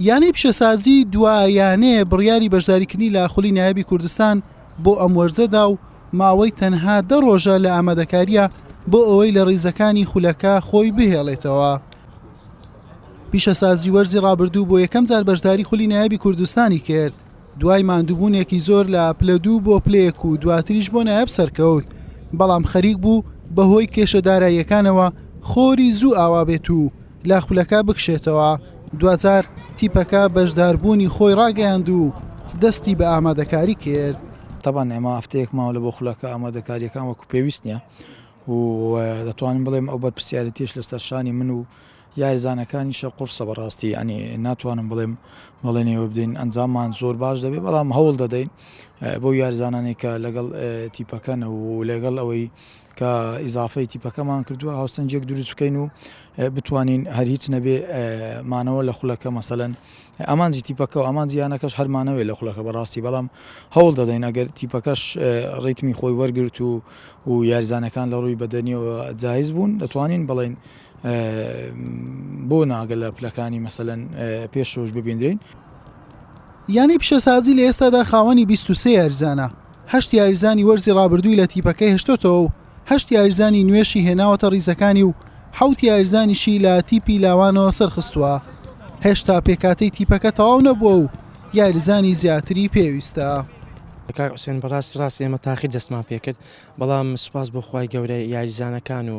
یانەی پیشەسازی دوا یانەیە بڕیاری بەشداریکردنی لە خولی نایابی کوردستان بۆ ئەم وەرزەدا و ماوەی تەنها دە ڕۆژە لە ئامادەکاریە بۆ ئەوەی لە ڕیزەکانی خولەکە خۆی بهێڵێتەوە. پیشەسازی وەرزی ڕابردوو بۆ یەکەم جار بەشداری خولی نایابی کوردستانی کرد. دوای ماندووبوونێکی زۆر لە پلە دوو بۆ پلە یەک و دواتریش بۆ نایاب سەرکەوت، بەڵام خەریک بوو بەهۆی کێشە داراییەکانەوە خۆری زوو ئاوا بێت و لە خولەکە بکشێتەوە، دواجار تیپەکە بەشداربوونی خۆی ڕاگەیاند و دەستی بە ئامادەکاری کرد. تەبعەن ئێمە هەفتەیەک ماوە لە بۆ خولەکە ئامادەکارییەکان وەکو پێویست نییە و دەتوانم بڵێم ئەو بەرپرسیارێتیەش لەسەر شانی من و یارزانەکانیشە قورسە بەڕاستی یانی ناتوانم بڵێم بەڵێنی ئەوە بدەین ئەنجاممان زۆر باش دەبێت بەڵام هەوڵ دەدەین بۆ یارزانانی کە لەگەڵ تیپەکەن و لەگەڵ ئەوەی کە ئیزافەی تیپەکەمان کردووە هاوسەنجێک دروست بکەین و بتوانین هەر هیچ نەبێ مانەوە لە خولەکە مەسەلەن ئەمانجی تیپەکە و ئەمان زیانەکەش هەرمانەوەی لە خولەکە بەڕاستی بەڵام هەوڵ دەدەین ئەگەر تیپەکەش ڕیتمی خۆی وەرگرت و و یارزانەکان لە ڕووی بەدەنیەوە جایز بوون دەتوانین بڵین بۆ ناگە لە پلەکانی مەسەلەن پێشەوەش ببیندرێین. یانەی پیشەسازی لە ئێستادا خاوەنی بیست و سێ یاریزانە، هەشت یاریزانی وەرزی رابردووی لە تیپەکەی هێشتۆتەوە و هەشت یاریزانی نوێشی هێناوەتە ریزەکانی و حەوت یاریزانیشی لە تیپی لاوانەوە سەرخستووە، هێشتا پێکهاتەی تیپەکە تەواو نەبووە و یاریزانی زیاتری پێویستە. کاک حوسێن بەڕاستی ڕاست ئێمە تاقی دەستمان پێکرد بەڵام سوپاس بۆ خوای گەورە یاریزانەکان و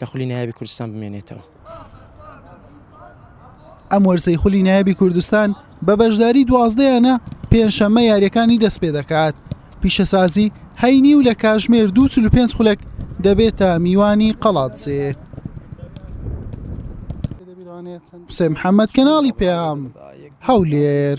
لە خولی نایابی کوردستان بمێنێتەوە. ئەم وەرزەی خولی نایابی کوردستان بە بەشداری دوازدە یانە پێنجشەممە یاریەکانی دەست پێ دەکات پیشەسازی هەینی و لە کاژمێر دو چل و پێنج خولەک دەبێتە میوانی قەڵادزێ حسێن محەممەد کەناڵی پێام هەولێر.